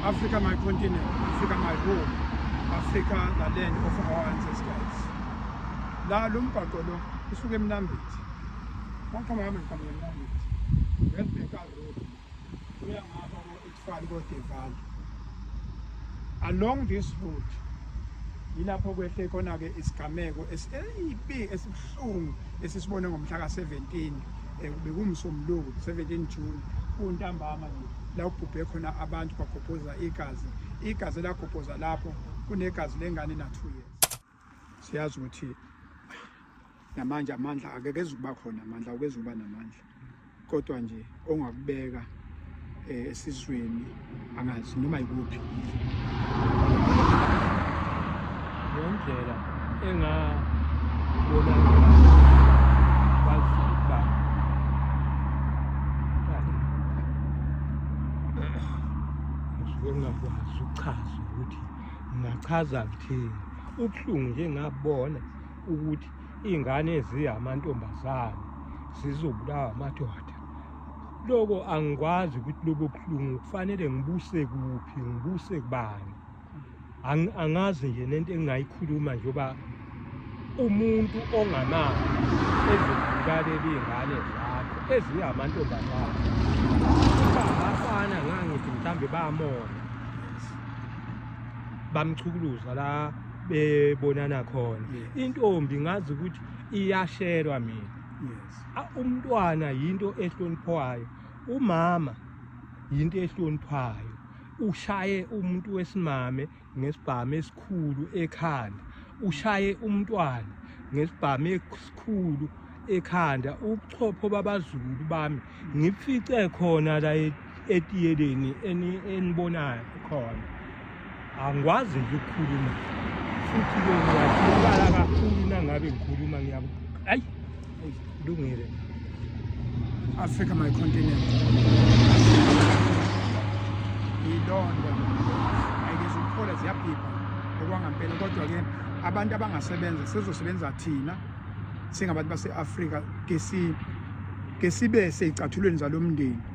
Africa my continent, Africa my home, Africa the land of our ancestors. La lo mgwaqo lo usuke eMnambithi. Waqhama hamba ngiqhamuka eMnambithi. Ngelibheka road. Uya ngapha ko Itfali ko Deval. Along this route yilapho kwehle khona ke isigameko esibi esibuhlungu esisibone ngomhla ka 17 Eh, bekumsombuluko 17 june kuntambama la ubhubhe khona abantu bagobhoza igazi igazi elagobhoza lapho kunegazi lengane na-two years siyazi ukuthi namanje amandla akekezukuba khona amandla ukezukuba namandla kodwa nje ongakubeka eh, esizweni angazi noma yikuphi yondlela engabona baziba ngingakwazi ukuchaza ukuthi ngingachaza kuthini ubuhlungu nje ngabona ukuthi iy'ngane eziyamantombazane zizobulawa amadoda loko angikwazi ukuthi lobo buhlungu kufanele ngibuse kuphi ngibuse kubani angazi nje nento engingayikhuluma nje uba umuntu ongamazi ezibukaleli iy'ngane zakho ezingamantombazane abafana ngangithi mhlawumbe bamona bamchukuluza la bebonana khona intombi ngazi ukuthi iyashelwa mina umntwana yinto ehloniphwayo umama yinto ehloniphwayo ushaye umuntu wesimame ngesibhamu esikhulu ekhanda ushaye umntwana ngesibhamu esikhulu ekhanda ubuchopho babazulu bami ngifice khona la etiyeleni enibonayo khona angikwazi nje ukukhuluma futhi ke ngiyakhala kakhulu nangabe ngikhuluma ngiyaku ayi lungile Africa my continent ilonda ayizukuphola ziyabhibha okwangampela kodwa ke abantu abangasebenza sizosebenza thina singabantu base-Afrika ke sibe seyicathulweni zalomndeni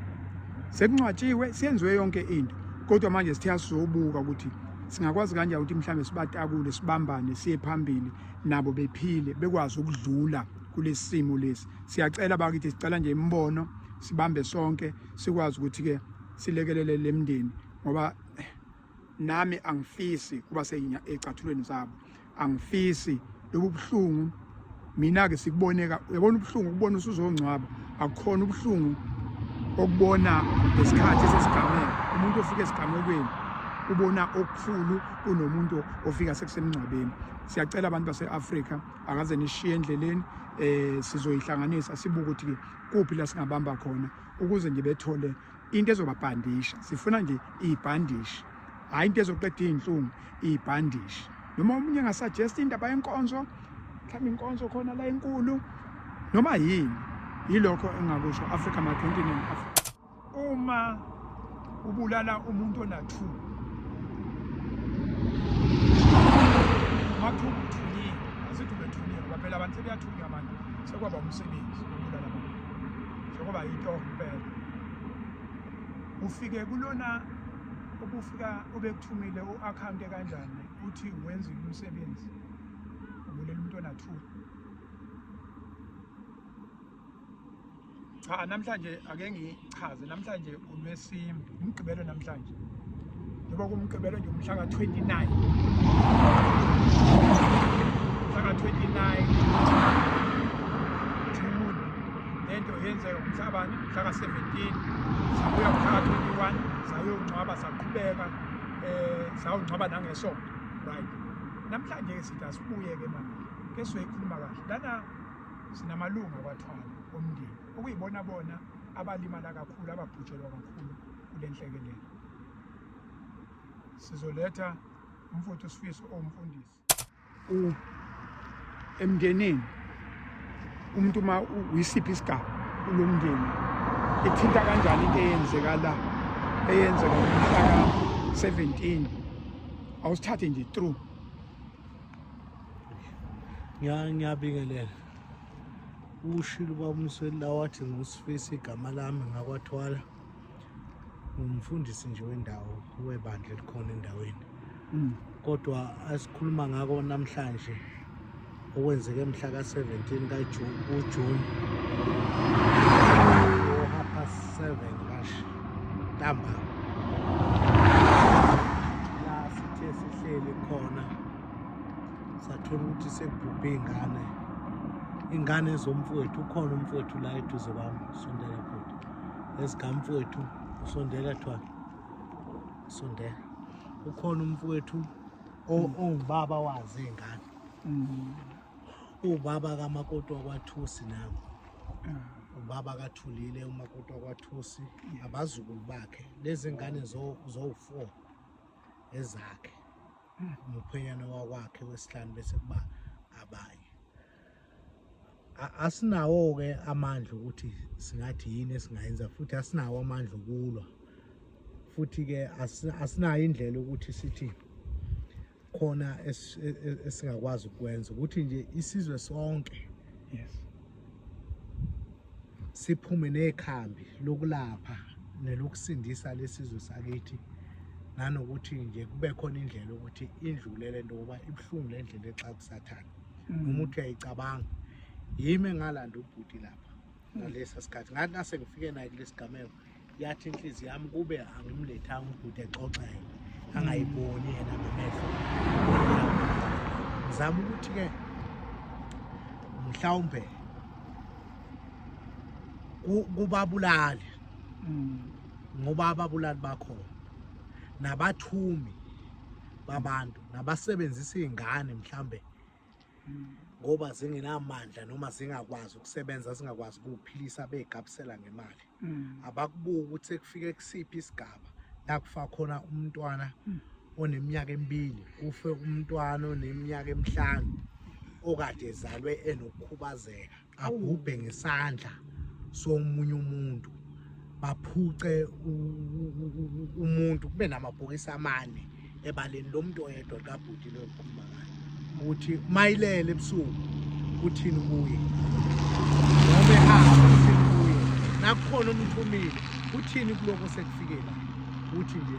Sekuncwatshiwe, senziwe yonke into. Kodwa manje sithe asizobuka ukuthi singakwazi kanjani ukuthi mhlawumbe sibatakule sibambane siye phambili nabo bephile bekwazi ukudlula kulesi simo lesi siyacela bakithi sicela nje imibono sibambe sonke sikwazi ukuthi-ke silekelele le mndeni ngoba nami angifisi kuba secathulweni zabo angifisi lobu buhlungu mina-ke sikuboneka uyabona ubuhlungu ukubona usuzongcwaba akukhona ubuhlungu okubona ngesikhathi esesigameko umuntu ofika esigamekweni ubona okukhulu kunomuntu ofika sekusemngcwabeni siyacela abantu base-afrika akaze nishiye endleleni um sizoyihlanganisa sibuke ukuthi kuphi la singabamba khona ukuze ngibethole into ezobabhandisha sifuna nje ibhandishi hayi into ezoqeda izinhlungu ibhandishi noma umunye ngasuggest indaba yenkonzo mhlawumbe inkonzo khona la enkulu noma yini yilokho engakusho Africa my continent Africa uma ubulala umuntu onathu mathu uthunyiwe asithi ubethunyiwe baphela abantu sebeyathunywa manje sekwaba umsebenzi njengoba yitoho impela ufike kulona ubufika ubekuthumile u-akhawunti kanjani uthi wenzile umsebenzi ubulela umuntu onathula cha namhlanje ake ngichaze namhlanje ngolwesine umgqibelo namhlanje njengoba kumgqibelo nje umhla ka-29 umhla ka-29 june le nto yenzeka umhla bani umhla ka-17 sabuya umhla ka-21 sayongcwaba saqhubeka um sawungcwaba nangesonto right namhlanje ke sithi asibuye-ke manje ke sizoyikhuluma kahle lana sinamalunga kwathwala omndeni okuyibona bona abalimala kakhulu ababhujelwa kakhulu kule nhlekelele sizoletha umfuthu usifiso owumfundisi emndenini umuntu uma uyisiphi isigaba kulo mndeni ithinta kanjani into eyenzeka la eyenzeka umhlaka 17 awusithathe nje true ngiyabingelela ushilo ubabumsweli la wathi ngusifisa igama lami ngakwathwala ngumfundisi nje wendawo webandla elikhona endaweni mm. kodwa asikhuluma ngako namhlanje okwenzeke mhla ka-17 kajuni kujuni ohapha 7 kashi ntamba la sithe sihleli khona sathola ukuthi sekubhubhe iy'ngane iy'ngane zomfowethu ukhona umfowethu la eduze kwami sondela bhuti ezikamfowethu usondela kuthiwa sondela ukhona umfowethu mm. ongubaba wazi iy'ngane mm. uwubaba kamakoti wakwathusi nabo mm. ubaba kathulile umakoti wakwathusi abazukulu bakhe lezi ngane zowu-four ezakhe umkhwenyana wakwakhe wesihlanu bese kuba abanye asinawo-ke amandla ukuthi singathi yini esingayenza futhi asinawo amandla okulwa futhi-ke asinayo indlela ukuthi sithi khona e, e, esingakwazi ukwenza ukuthi nje isizwe sonke yes siphume nekhambi lokulapha nelokusindisa lesizwe sakithi nanokuthi nje kube khona indlela ukuthi indlule le nto ngoba ibuhlungu le ndlela exakusathana mm. noma uthi uyayicabanga yimi engalanda ubhuti lapha ngalesa sikhathi ngathi nase ngifike naye kulesigameko yathi inhliziyo yami kube angimlethanga ubhuti exoxele angayiboni yena ngamehlo ngizama ukuthi-ke mhlawumbe kubabulali mm. ngoba ababulali bakhona nabathumi babantu nabasebenzisa iy'ngane mhlawumbe ngoba zingenamandla noma zingakwazi ukusebenza zingakwazi ukuphilisa begabisela ngemali mm. abakubuki ukuthi kufike kusiphi isigaba la kufa khona umntwana mm. oneminyaka emibili kufe umntwana oneminyaka emihlanu okade ezalwe enokukhubazeka abhubhe ngesandla somunye umuntu baphuce umuntu kube namabhokisi amane ebaleni lo muntu oyedwa kabhuti lo okhuluma ngayo ukuthi mayilele ebusuku uthini kuye ngoba ehamba uthini kuye nakukhona umthumile uthini kuloko sekufikela uthi nje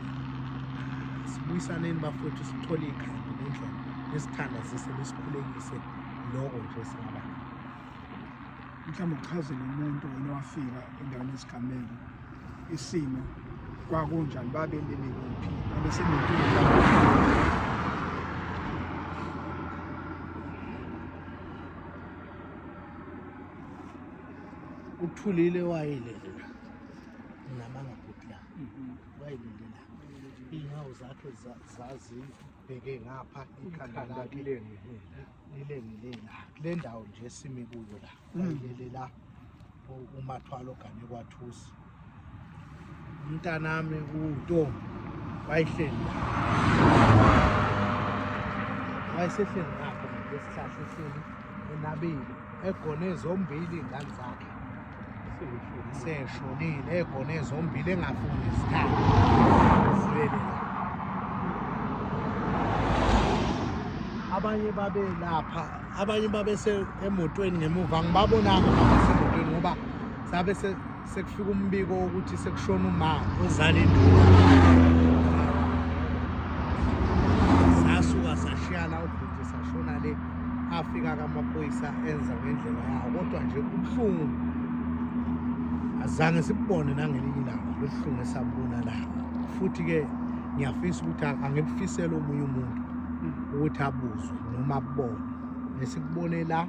sibuyisaneni bafowethu sithole ikhanda nendlela nesithandazise lesikhulekise loko nje singaba mhlawumbe uchazele umuntu wena wafika endaweni yesigameko isimo kwakunjani babelele kuphi abesenenkinga uthulile wayelela namanga bhuti la mhm. wayelela iy'nyawo zakhe zazindlu bheke ngapha ikhanda lakhe lilengile la kule ndawo nje esimi kuyo la mm. ayilele la umathwalo gane kwathusi umntanami kuto wayihleli wayesehleli lapho ngesihlahla ehleli enabile egone zombili ingane zakhe seshonile egone zombili engafuni isikhathi abanye babe lapha abanye babese emotweni ngemuva ngibabonanga abasemotweni ngoba sabe sekufika umbiko wokuthi sekushona uma ozala induna sasuka sashiyana ubhuti sashona le afika kamaphoyisa enza ngendlela yawo kodwa nje ubuhlungu azange sibone nangelinye ilanga lobuhlungu esabona la futhi-ke ngiyafisa ukuthi angibufisele omunye umuntu ukuthi abuzwe noma abone nesikubone la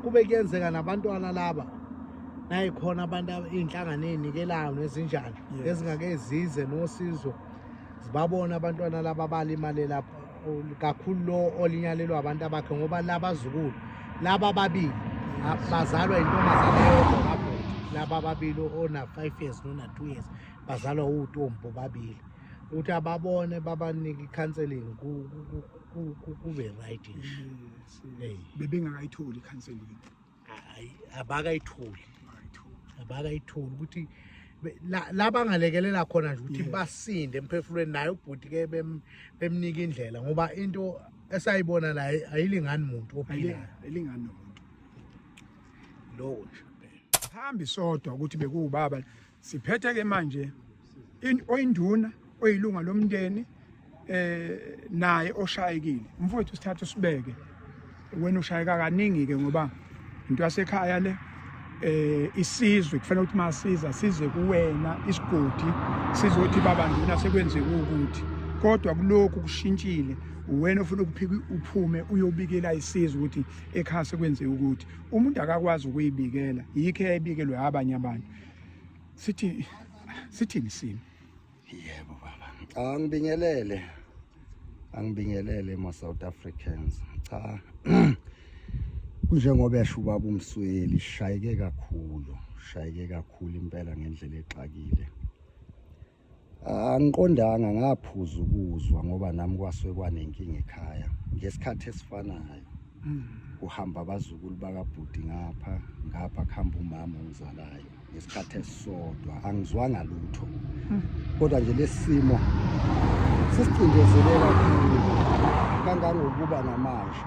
kube kuyenzeka nabantwana laba nayikhona abantu iy'nhlangano ey'nikelayo nezinjani ezingake zize nosizo zibabona abantwana laba balimale lapho kakhulu lo olinyalelwa abantu abakhe ngoba labazukulu laba ababili bazalwa intombazane yodwa kabhuti laba ababili ona-five years nona-two years bazalwa uwutombi bobabili ukuthi ababone babanike i-counseling kube right nje bebengakayitholi i-counseling abakayitholi abakayitholi ukuthi labangalekelela khona nje ukuthi basinde emphefulweni naye ubhuti ke bemnika indlela ngoba into esayibona la ayilingani muntu ophilayo ayilingani nomuntu lowo nje phambi sodwa ukuthi bekuwubaba siphethe ke manje oyinduna oyilunga lomndeni eh naye oshayekile mfowethu sithatha usibeke wena ushayeka kaningi ke ngoba into yasekhaya le eh isizwe kufanele ukuthi masiza size kuwena isigodi sizothi baba nduna sekwenzeka ukuthi kodwa kulokhu kushintshile wena ufuna ukuphika uphume uyobikela isizwe ukuthi ekhaya sekwenzeka ukuthi umuntu akakwazi ukuyibikela yikho eyayibikelwe abanye abantu sithi sithini simi yebo baba cha ngibingelele angibingelele ma South Africans cha kunjengoba yasho ubaba umsweli shayeke kakhulu shayeke kakhulu impela ngendlela exakile Angiqondanga ngaphuza ukuzwa ngoba nami kwasuke kwanenkinga ekhaya ngesikhathi esifanayo. Mm. Kuhamba abazukulu bakabhuti ngapha ngapha kuhamba umama ongizalayo ngesikhathi esisodwa angizwanga lutho. Mm. Kodwa nje lesimo sisicindezele kakhulu kangangokuba namanje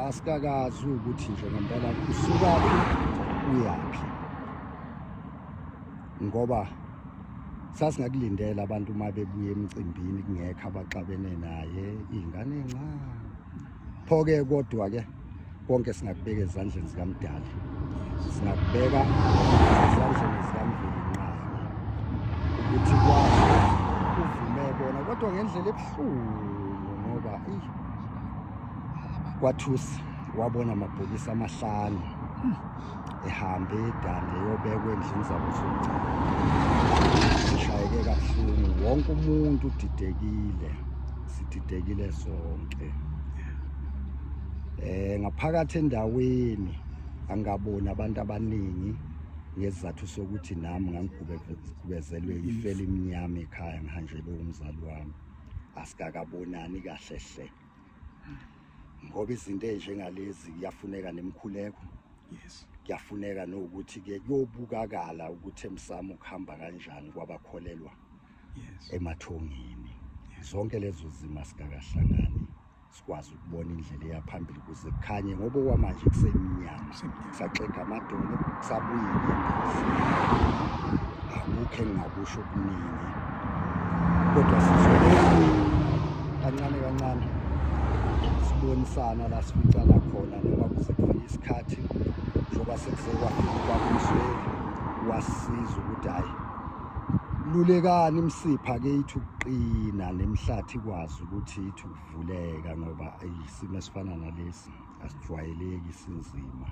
asikakazi ukuthi nje ngempela usukaphi uyaphi. ngoba sasingakulindela abantu uma bebuye emcimbini kungekho abaxabene naye iy'ngane ncane pho-ke kodwa-ke konke singakubeka ezandleni zikamdala singakubeka ezandleni zikamveli nqayi ukuthi kwazi uvume bona kodwa ngendlela ebuhlungu ngoba kwathusi wabona amabhokisi amahlanu ihambe idande yobekwa endlini zabo zomcala sishayeke kabuhlungu wonke umuntu udidekile sididekile sonke eh ngaphakathi endaweni angaboni abantu abaningi ngesizathu sokuthi nami ngangigubezelwe ifeli imnyama ekhaya ngihanjelwe umzali wami asikakabonani kahle hle ngoba izinto ezinjengalezi kuyafuneka nemkhuleko yes kuyafuneka nokuthi ke kuyobukakala ukuthi emsamo kuhamba kanjani kwabakholelwa yes emathongeni zonke lezo zima sikakahlangani sikwazi ukubona indlela eyaphambili kuze kukhanye ngoba kwamanje kusemnyama saxega amadolo sabuyile endizi akukho engingakusho okuningi kodwa sizoleni kancane kancane sibonisana la sificana khona noma kuze kufike isikhathi njengoba sekuzekwafika kwakumsweli wasiza ukuthi hhayi lulekani imsipha ke ithi ukuqina nemhlathi ikwazi ukuthi ithi ukuvuleka ngoba isimo esifana nalesi asijwayeleki sinzima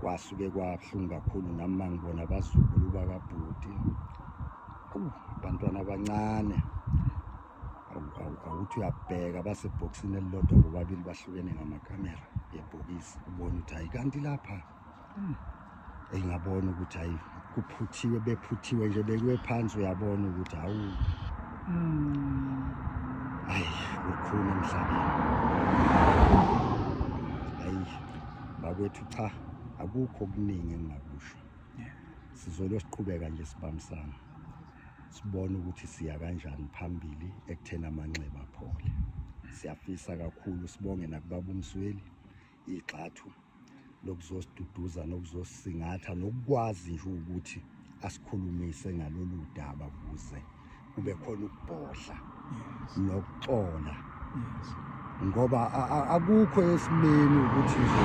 kwasuke kwabuhlungu kakhulu nami mangibona abazukulu bakabhuti abantwana abancane awuthi uyabheka basebhokisini elilodwa bobabili bahlukene ngamakamera yebhokisi ubona ukuthi hayi kanti lapha eyi ngabona ukuthi hayi kuphuthiwe bephuthiwe nje bekuwe phansi uyabona ukuthi hawu hayi kukhulu emhlabeni hayi bakwethu cha akukho okuningi engingakusho sizolo siqhubeka nje sibambisana sibone ukuthi siya kanjani phambili ekutheni amanxeba aphole siyafisa kakhulu sibonge nakubaba umsweli igxathu lokuzosiduduza nokuzosisingatha nokukwazi nje ukuthi asikhulumise ngalolu daba kuze kube khona ukubhodla nokuxola ngoba akukho esimeni ukuthi nje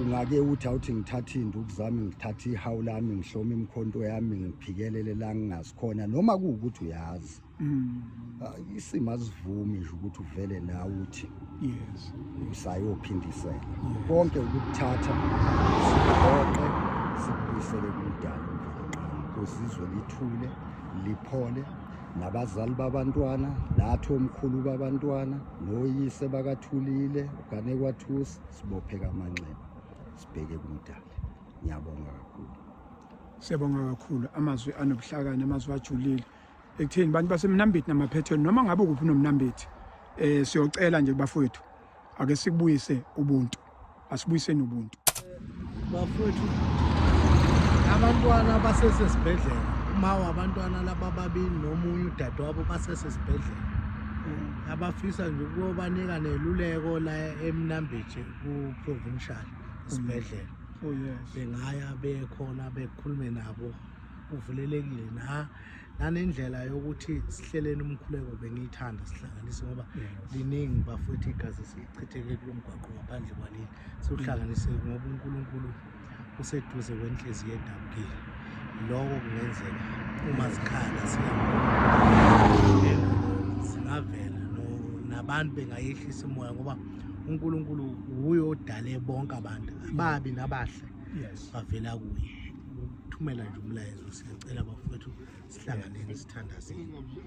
ungake uthi awuthi ngithathe induku zami ngithathe ihawu lami ngihlome imkhonto yami ngiphikelele la ngingasikhona noma kuwukuthi uyazi mm. ah, isimo asivumi nje ukuthi uvele nawe uthi yes usayophindisela konke ukuthatha siqoqe sibuyisele kumdala kozizwe lithule liphole nabazali babantwana nathi omkhulu babantwana noyise bakathulile ugane kwathusi sibophe kamanxeba sibheke kumdali ngiyabonga kakhulu siyabonga kakhulu amazwi anobuhlakani amazwi ajulile ekutheni bantu basemnambithi namaphethweni noma ngabe kuphi unomnambithi eh siyocela nje bafowethu ake sikubuyise ubuntu asibuyiseni ubuntu bafowethu abantwana basesesibhedlela uma wabantwana laba babili nomunye udadewabo basesesibhedlela mm. abafisa nje ukuyobanika neluleko la emnambithi ku-provincial isibhedlela oh, bengaya bekhona bekhulume nabo kuvulelekile na nanendlela yokuthi sihleleni umkhuleko bengiyithanda sihlanganise ngoba liningi bafowethu igazi sichitheke kulo mgwaqo ngaphandle kwaleli siwuhlanganise ngoba unkulunkulu useduze kwenhliziyo edabukile loko kungenzeka uma sikhala singavela nabantu bengayehlisa imoya ngoba unkulunkulu wuye odale bonke abantu ababi nabahle bavela kuye thumela nje umlayezo siyacela bafowethu sihlanganeni sithandazeni